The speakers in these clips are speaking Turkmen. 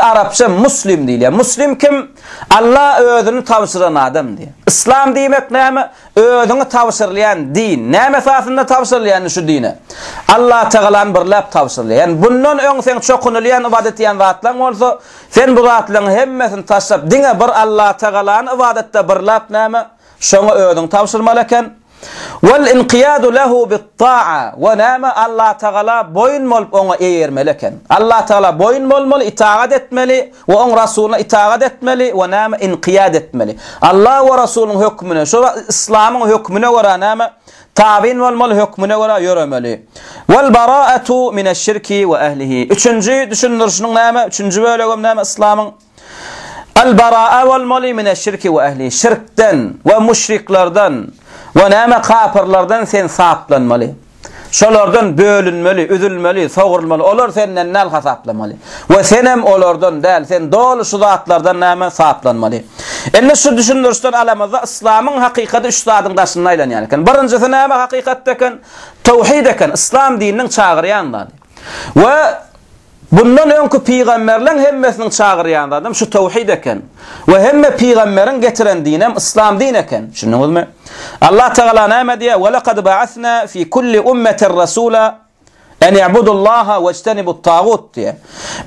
Arapça Muslim diýilýär. Muslim kim? Alla özüni tabşyran adam diýýär. Yslam diýmek näme? Özüňi tabşyrylýan din. Näme esasynda tabşyrylýar indi şu dine? Allatagalany birläp tabşyrylýar. Ýani bundan öň seň çokunylýan, ybadat etýän zatlaň bolsa, sen bu zatlaryň hemmesini taşlap, diňe bir Allatagalany ybadatda birläp näme? Şoňa özüňi tabşyrmaly eken. Wal inqiyadu lehu bit taa we näme Allah tagala boýun bolup oňa eýermeli eken. Allah tagala boýun bolmaly, itagat etmeli we oň Rasuluna itagat etmeli we näme inqiyad etmeli. Allah we Rasulunyň hökmüne, şo islamyň hökmüne görä näme tabyn bolmaly, hökmüne görä ýöremeli. Wal baraatu mineş şirki we ehlihi. Üçünji düşündirişiniň näme, üçünji bölegem näme islamyň. Al-Bara'a wal moli mine şirki we ehli, şirkden we müşriklerden we näme kapyrlardan sen saplanmaly. Şolardan bölünmeli, üzülmeli, sogurulmaly, olar senden däl hasaplamaly. We senem olardan däl, sen doly şu zatlardan näme saplanmaly. Indi şu düşündirişden alamyzda yslamyň hakykady üç zadyň daşynda aýlanýar eken. Birinjisi näme hakykatda eken? Tawhid eken, yslam dininiň çagyrýan zady. We bundan öňki pygamberleň hemmesiniň çagyrýan zadam şu towhid eken. We hemme pygamberiň getiren dinem yslam din eken. Düşündiňizmi? Allah Tagala näme diýýär? Wa laqad ba'asna fi kulli ummatin rasula an i'budullaha wajtanibut tagut diýýär.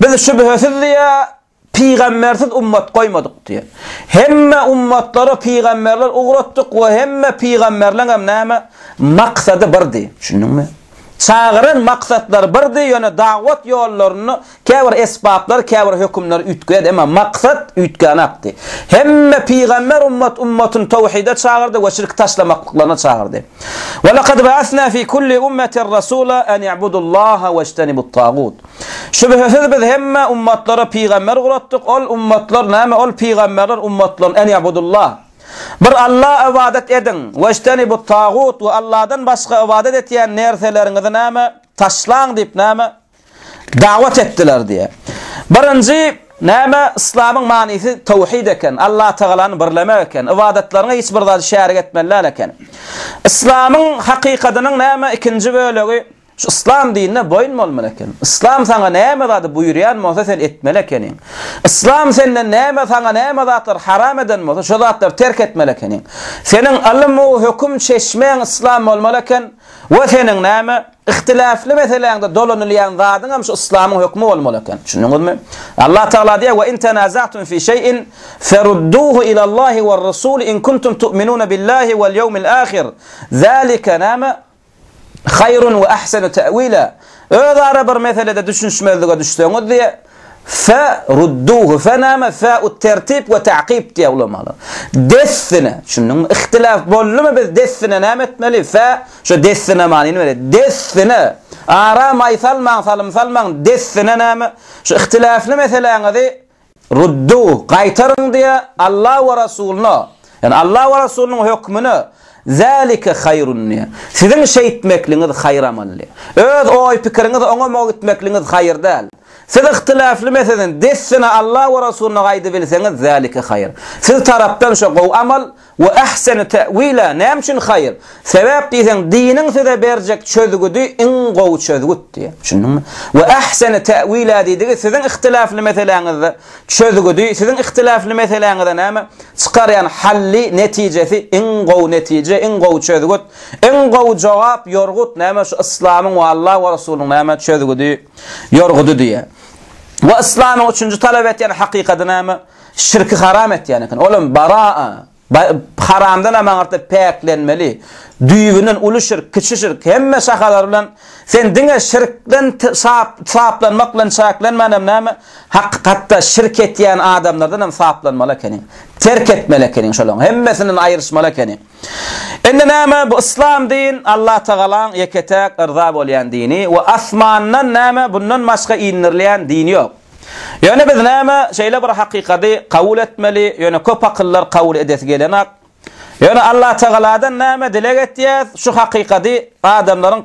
Biz şübhesiz diýýär, Pygambersiz ummat goýmadyk diýýär. Hemme ummatlara pygamberler ugratdyk we hemme pygamberleňem näme? Maksady birdi. Düşündiňmi? Çagyran maksatlary birdi, ýöne dawat ýollarynda käbir esbaplar, käbir hökümler üýtgeýärdi, emma maksat üýtgänakdy. Hemme pygamber ummat ummatyny tawhide çagyrdy we şirki taşlamaklyklaryna çagyrdy. Welakad ba'asna fi kulli ummatin rasula an i'budullaha wejtenibut-tagut. Şübhesiz biz hemme ummatlara pygamber uratdyk, ol ummatlar näme ol pygamberler ummatlaryny en ýabudullah, bir Alla ybadat ediň, weştenibut tagut we Alladan başga ybadat etýän nerseleriňizi näme taşlaň diýip näme dawat etdiler diýe. Birinji näme yslamyň manysy tawhid eken, Alla tagalany birlemek eken, ybadatlaryňa hiç bir zady şärik etmeli däl eken. Yslamyň hakykatynyň näme ikinji bölegi Şu yslam dinine boýun bolmaly eken. Yslam saňa näme zady buýurýan bolsa sen etmeli ekeniň. Yslam senden näme saňa näme zatlary haram eden bolsa şo zatlary terk etmeli ekeniň. Seniň ylym u höküm çeşmeň yslam bolmaly eken we seniň näme Ihtilafly meseläňde dolanylýan zadyňam şu yslamyň hökmi bolmaly eken. Düşündiňizmi? Allah Tagala diýýär we in tanaza'tum fi şeý'in ferudduhu ila Allahi we Rasul in kuntum tu'minuna billahi wal ýawmil ahir. Zalika näme? Haýrun we ahsenu ta'wila, Özara bir meselede düşünişmezlige düşseňiz diýe, Fe rudduhu, fe näme? Fe'ut tertip we ta'kib diýe ulamalar. Dessine, düşündiňmi? Ihtilaf boldumy biz dessine näme etmeli? Fe şo dessine manyny berýär. Dessine, ara maý salmaň, salym salmaň, dessine näme? Şu ihtilafly meseläňizi Rudduh, gaýtaryň diýe, Alla we Rasuluna, ýagny Alla we Rasulnyň hökmüne, zälike haýrun diýe, siziň şeýtmekligiňiz haýyr amal diýe. Öz oý-pikiriňiz oňa mugt gitmekligiňiz haýyr däl. Siz yhtilafly meseleni dessine Alla we Rasuluna gaýdybilseňiz, zälike haýyr. Siz tarapdan şo gowy amal, We ahsenu ta'wila, näme üçin haýyr? Sebäp diýseň, diniň size berjek çözgüdi iň gowy çözgüt diýýär. Düşündiňmi? We ahsenu ta'wila diýdigi siziň ihtilafly meseläňizde çözgüdi, siziň ihtilafly meseläňize näme? Çykarýan hally, netijesi iň gowy netije, iň gowy çözgüt, iň gowy jogap, ýorgut näme? Şu yslamyň we Alla we Resulyň näme? Çözgüdi, ýorgudy diýýär. We yslamyň üçünji talap etýän hakykady näme? Şirki haram etýän eken. Olam baraa, haramdan hem aňyrda päklenmeli. Düýbünden uly şirk, kiçi şirk, hemme şahalary bilen sen diňe şirkden saplanmak bilen çäklenmän hem näme, hakykatda şirk etýän adamlardan hem saplanmaly ekeniň. Terk etmeli ekeniň şolaryň hemmesinden aýryşmaly ekeniň. Indi näme bu yslam din Allatagalaň ýeke-täk yrza bolýan dini we asmandan näme bundan başga indirilýän din ýok. Ýöne biz näme şeýle bir hakykady kabul etmeli, ýöne köp akyllar kabul edesi gelenok. Ýöne Allatagaladan näme dileg etýäs, şu hakykady adamlaryň